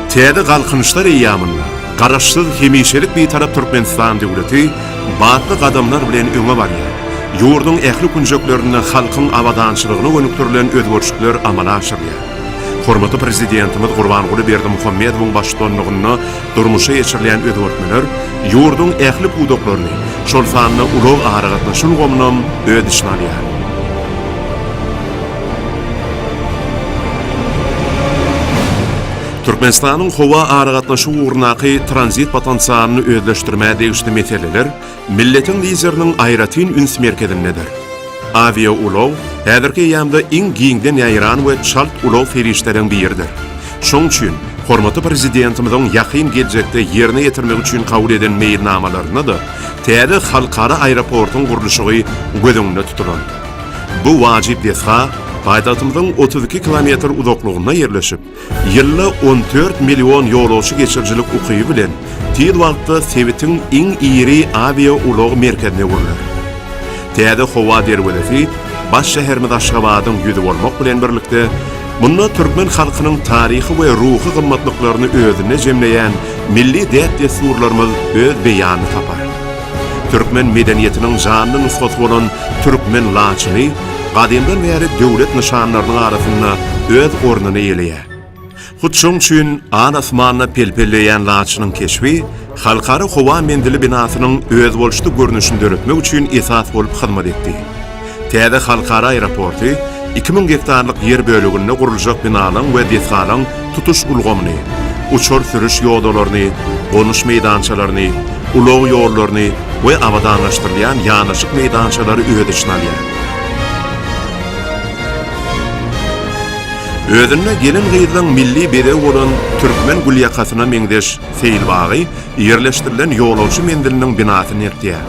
Täze galkynyşlar eýýamynda Garaşsyz, hemişelik Bitarap Türkmenistan döwleti batly gadamlar bilen öňe barýar. Ýurduň ähli künjeklerinde halkyň abadançylygyna gönükdirilen özgerişikler amala aşyrylýar. Hormatly Prezidentimiz Gurbanguly Berdimuhamedowyň baştutanlygynda Durmuşa geçirilýän özgertmeler ýurduň ähli pudaklaryny, şol sanda ulag-aragatnaşyk ulgamynam öz içine alýar. Türkmenistanyň howa aragatnaşygy ugrundaky tranzit potensialyny özleşdirmä degişli meseleler Milletiň Lideriniň aýratyn üns merkezindedir. Awiaulag häzirki eýýamda iň giňden ýaýran we çalt ulag serişdeleriň biridir. Şoň üçin, hormatly Prezidentimiziň ýakyn geljekde ýerine ýetirmek üçin kabul eden meýilnamalarynda-da täze halkara aeroportyň gurluşygy göz öňünde tutulandyr. Bu wajyp desga paýtagtymyzyň otuz iki kilometr uzaklygynda ýerleşip, Ýylda on dört million ýolagçy geçirijilik ukyby bilen tiz wagtda sebitiň iň iri awiaulag merkezine öwrüler. Täze howa derwezesi baş şäherimiz Aşgabadyň ýüzi bolmak bilen birlikde, munda türkmen halkynyň taryhy we ruhy gymmatlyklaryny özünde jemleýän milli däp-dessurlarymyz öz beýanyny tapar. Türkmen medeniýetiniň janly nusgasy bolan türkmen laçyny gadymdan bäri döwlet nyşanlarynyň arasynda öz ornuny eýeleýär. Hut şoň üçin al asmanda pelpelleýän laçynyň keşbi Halkara howa menzili binasynyň özboluşly görnüşini döretmek üçin esas bolup hyzmat etdi. Täze halkara aeroporty iki müň gektarlyk ýer böleginde guruljak binalaryň we desgalaryň tutuş ulgamyny, uçar sürüş ýodalaryny, gonuş meýdançalaryny, ulag ýollaryny we abadanlaşdyrylýan ýanaşyk meýdançalary öz içine alýar. Özünde gelin-gyzlaryň milli bezegi bolan türkmen gülýakasyna meňzeş seýilbagy, Ýerleşdirilen ýolagçy menziliniň binasy nertýär?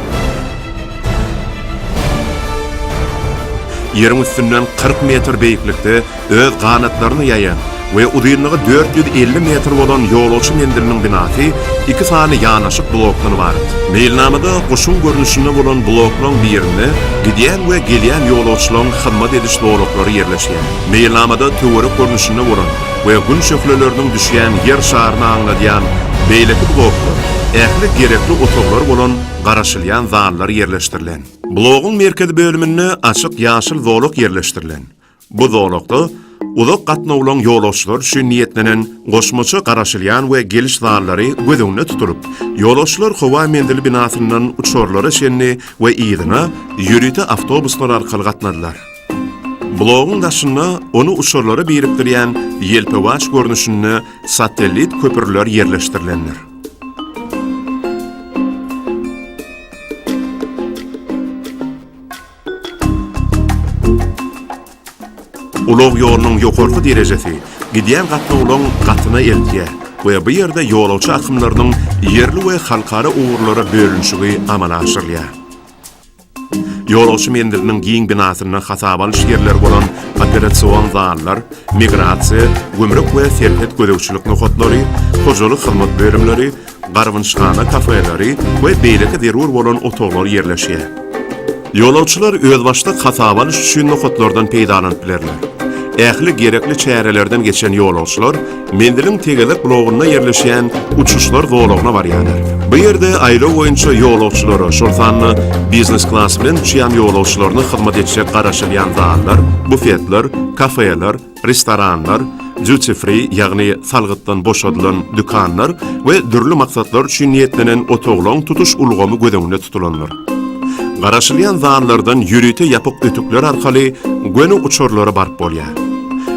Ýeriň üstünden kyrk metr beýiklikde öz ganatlaryny ýaýan we uzynlygy dört ýüz elli metr bolan ýolagçy menziliniň binasy iki sany ýanaşyk blokdan ybarat. Meýilnamada guşuň görnüşinde bolan bloklaryň birinde gidýän we gelýän ýolagçylaryň hyzmat ediş zolaklary ýerleşýär. Meýilnamada töwerek görnüşinde bolan, we Gün şöhleleriniň düşýän Ýer şaryny aňladýan beýleki bloklar, ähli gerekli otaglar bolan garaşylýan zallar ýerleşdirilen. Blogyň merkezi bölüminde açyk ýaşyl zolak ýerleşdirilen. Bu zolakda uzak gatnawlaryň ýolagçylary üçin niýetlenen goşmaça garaşylýan we geliş zallary göz öňünde tutulyp, ýolagçylar howa menzili binasyndan uçarlara çenli we yzyna ýörite awtobuslar arkaly gatnadylar. Blogyň daşynda ony uçarlara birikdirýän ýelpewaç görnüşinde satellit köprüler ýerleşdirilendir. Ulag ýolunyň ýokarky derejesi gidýän gatnawlaryň gatyna eltýär we bu ýerde ýolagçy akymlarynyň ýerli we halkara ugurlara bölünişigi amala aşyrylýar. Ýolagçy menziliniň giň binasynda hasaba alyş ýerleri bolan operasion zallar, migrasiýa, gümrük we serhet gözegçilik nokatlary, hojalyk hyzmat bölümleri, garbynçyhana kafeleri we beýleki zerur bolan otaglar ýerleşýär. Ýolagçylar özbaşdak hasaba alyş üçin nokatlardan peýdalanyp bilerler. Ähli gerekli çärelerden geçen ýolagçylar Menziliň tegezek blogynda ýerleşýän uçuşlar zolagyna barýarlar. Bu ýerde aýlaw boýunça ýolagçylara, şol sanda biznes klas bilen uçýan ýolagçylaryna hyzmat etjek garaşylýan zallar, bufetler, kafeler, restoranlar, duty-free, ýagny salgytdan boşadylan, dükanlar we dürli maksatlar üçin niýetlenen otaglaryň tutuş ulgamy göz öňünde tutulandyr. Garaşylýan zanlardan ýörite ýapyk ötükler arkaly göni uçarlara baryp bolýar.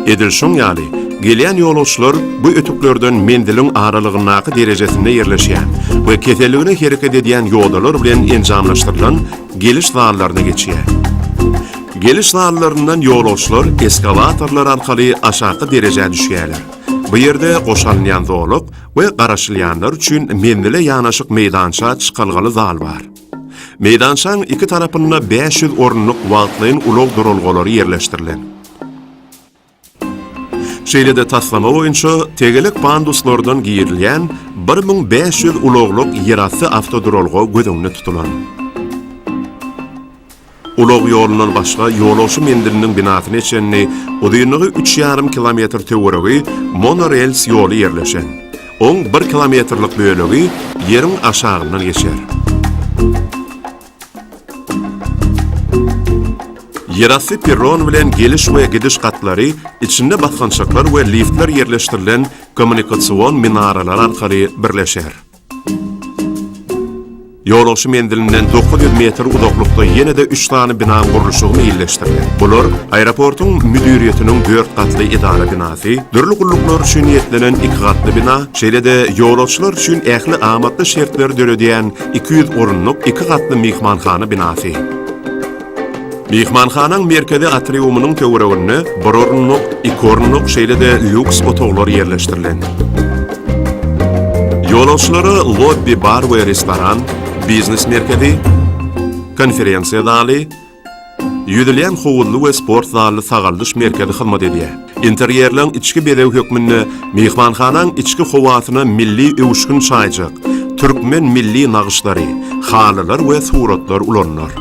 Edil şoň ýaly, gelýän ýolagçylar bu ötüklerden menziliň aralygyndaky derejesinde ýerleşýän we keseligine hereket edýän ýodalar bilen enjamlaşdyrylan geliş zallaryna geçýär. Geliş zallaryndan ýolagçylar eskawatorlar arkaly aşaky derejä düşýärler. Bu ýerde goşa alynýan zolak we garaşylýanlar üçin menzile ýanaşyk meýdança çykalgaly zal bar. Meýdançaň iki tarapynda bäş ýüz orunlyk wagtlaýyn ulag duralgalary ýerleşdirilen. Şeýle-de taslama boýunça tegelek panduslardan girilýän bir müň bäş ýüz ulaglyk ýerasty awtoduralga göz öňünde tutulan. Ulag ýolundan başga ýolagçy menziliniň binasyna çenli uzynlygy üç ýarym kilometr töweregi monorels ýoly ýerleşen. Oň bir kilometrlik bölegi ýeriň aşagyndan geçer. Ýerasty perron bilen geliş we gidiş gatlary içinde basgançaklar we liftler ýerleşdirilen kommunikasion minaralar arkaly birleşer. Ýolagçy menzilinden dokuz ýüz metr uzaklykda ýene-de üç sany binanyň gurluşygy meýilleşdiriler. Bular, aeroportyň müdiriýetiniň dört gatly edara binasy, dürli gulluklar üçin niýetlenen iki gatly bina, şeýle-de ýolagçylar üçin ähli amatly şertleri döredýän iki ýüz orunlyk iki gatly myhmanhana binasy. Myhmanhanaň merkezi atriumynyň töwereginde bir orunlyk, iki orunlyk, şeýle-de lýuks otaglar ýerleşdirilen. Ýolagçylara lobbi, bar we restoran, biznes merkezi, konferensiýa zaly, ýüzülýän howuzly we sport zally sagaldyş merkezi hyzmat edýär. Interýerleň içki bezegi hökmünde myhmanhanaň içki howasyna milli öwüşgin çaýjak, türkmen milli nagyşlary, halylar we suratlar ulanylar.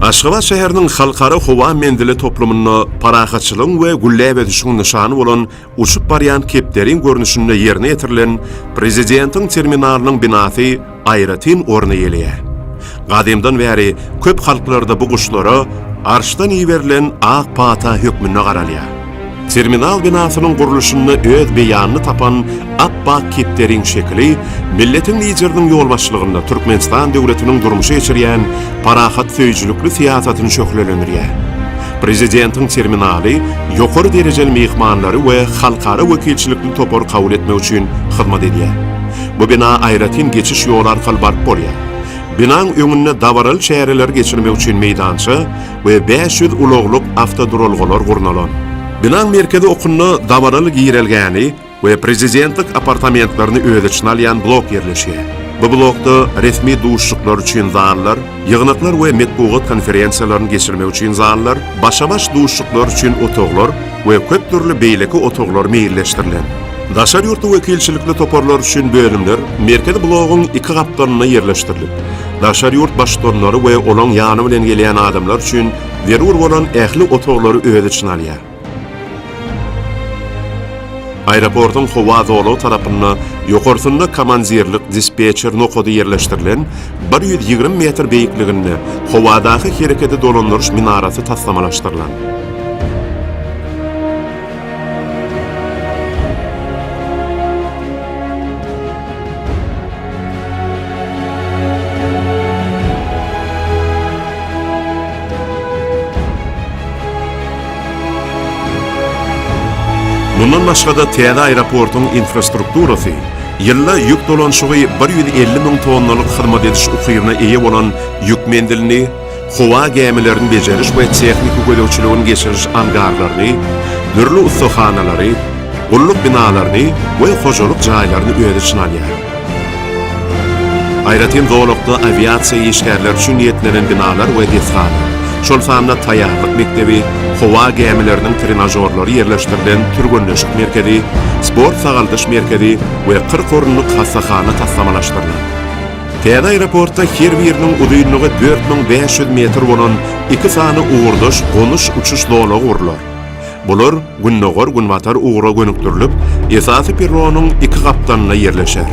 Aşgabat şäheriniň Halkara howa menzili toplumynda parahatçylygyň we gülläp ösüşiň nyşany bolan uçup barýan kepderiň görnüşinde ýerine ýetirilen Prezidentiň terminalynyň binasy aýratyn orun eýeleýär. Gadymdan bäri köp halklarda bu guşlara Arşdan iberilen ak pata hökmünde garalýar. Terminal binasynyň gurluşynda öz beýanyny tapan Apbak kepderiň şekili milletiň Lideriniň ýolbaşçylygynda Türkmenistan döwletiniň durmuşa geçirýän parahatsöýüjilikli syýasatyny şöhlelendirýär. Prezidentiň terminaly ýokary derejeli myhmanlary we halkara wekilçilikli topary kabul etmek üçin hyzmat edýär. Bu bina aýratyn geçiş ýoly arkaly baryp bolýar. Binaň öňünde dabaraly çäreleri geçirmek üçin meýdança we bäş ýüz ulaglyk awtoduralgalar gurnalan. Binaň merkezi okunda dabaraly girelgäni we prezidentlik apartamentlerini öz içine alýan blok ýerleşýär. Bu blokda resmi duşuşyklar üçin zallar, ýygnaklar we metbugat konferensiýalaryny geçirmek üçin zallar, başa-baş duşuşyklar üçin otaglar we köp dürli beýleki otaglar meýilleşdirilen. Daşary ýurtly wekilçilikli toparlar üçin bölümler merkezi blogyň iki gapdalynda ýerleşdirilip, daşary ýurt baştutanlary we olaň ýany bilen gelýän adamlar üçin zerur bolan ähli otaglary öz içine alýar. Aeroportyň howa zolagy tarapynda ýokarsynda komandirlik-dispetçer nokady ýerleşdirilen bir ýüz ýigrimi metr beýikliginde howadaky hereketi dolandyryş minarasy taslamalaşdyrylan. Mundan başga-da täze aeroportyň infrastrukturasy ýylda ýük dolanyşygy bir ýüz elli müň tonnalyk hyzmat ediş ukybyna eýe bolan ýük menzilini, howa gämilerini bejeriş we tehniki gözegçiligiň geçiriş angarlaryny, dürli ussahanalary, gulluk binalaryny we hojalyk jaýlaryny öz içine alýar. Aýratyn zolakda awiasiýa işgärleri üçin niýetlenen binalar we desgalar, şol sanda taýýarlyk mekdebi, howa gämileriniň trenažorlary ýerleşdirilen türgenleşik merkezi, sport-sagaldyş merkezi we kyrk orunlyk hassahana taslamalaşdyrylan. Täze aeroportda her biriniň uzynlygy dört müň bäş ýüz metr bolan iki sany ugurdaş gonuş-uçuş zolagy gurlar. Bular gündogar-günbatar ugra gönükdirilip, esasy perronyň iki gapdalynda ýerleşer.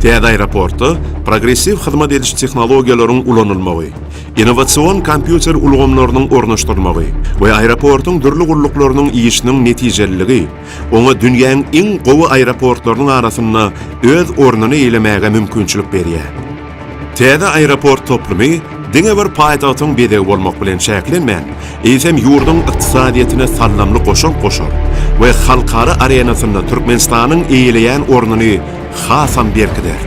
Täze aeroportda progressiw hyzmat ediş tehnologiýalaryň ulanylmagy, innowasion kompýuter ulgamlarynyň ornaşdyrylmagy we aeroportyň dürli gulluklarynyň işiniň netijeliligi, Oňa dünýäň iň gowy aeroportlarynyň arasynda öz ornuny eýlemäge mümkinçilik berýär. Täze aeroport toplumy diňe bir paýtagtyň bezegi bolmak bilen çäklenmän, eýsem ýurduň ykdysadyýetine saldamly goşant goşar we halkara arenasynda Türkmenistanyň eýeleýän ornuny hasam berkider.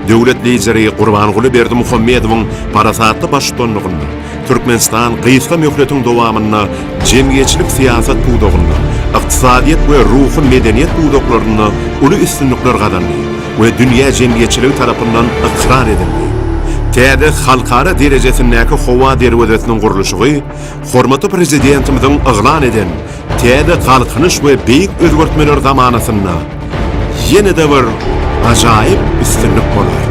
Döwlet Lideri Gurbanguly Berdimuhamedowyň parasatly baştutanlygynda Türkmenistan gysga möhletiň dowamynda jemgyýetçilik-syýasat pudagynda, ykdysadyýet we ruhy medeniýet pudaklarynda uly üstünlikler gazandy we dünýä jemgyýetçiligi tarapyndan ykrar edildi. Täze halkara derejesindäki howa derwezesiniň gurluşygy hormatly Prezidentimiziň yglan eden Täze Galkynyş we beýik özgertmeler zamanasynda ýene-de bir ajaýyp üstünlik bolar.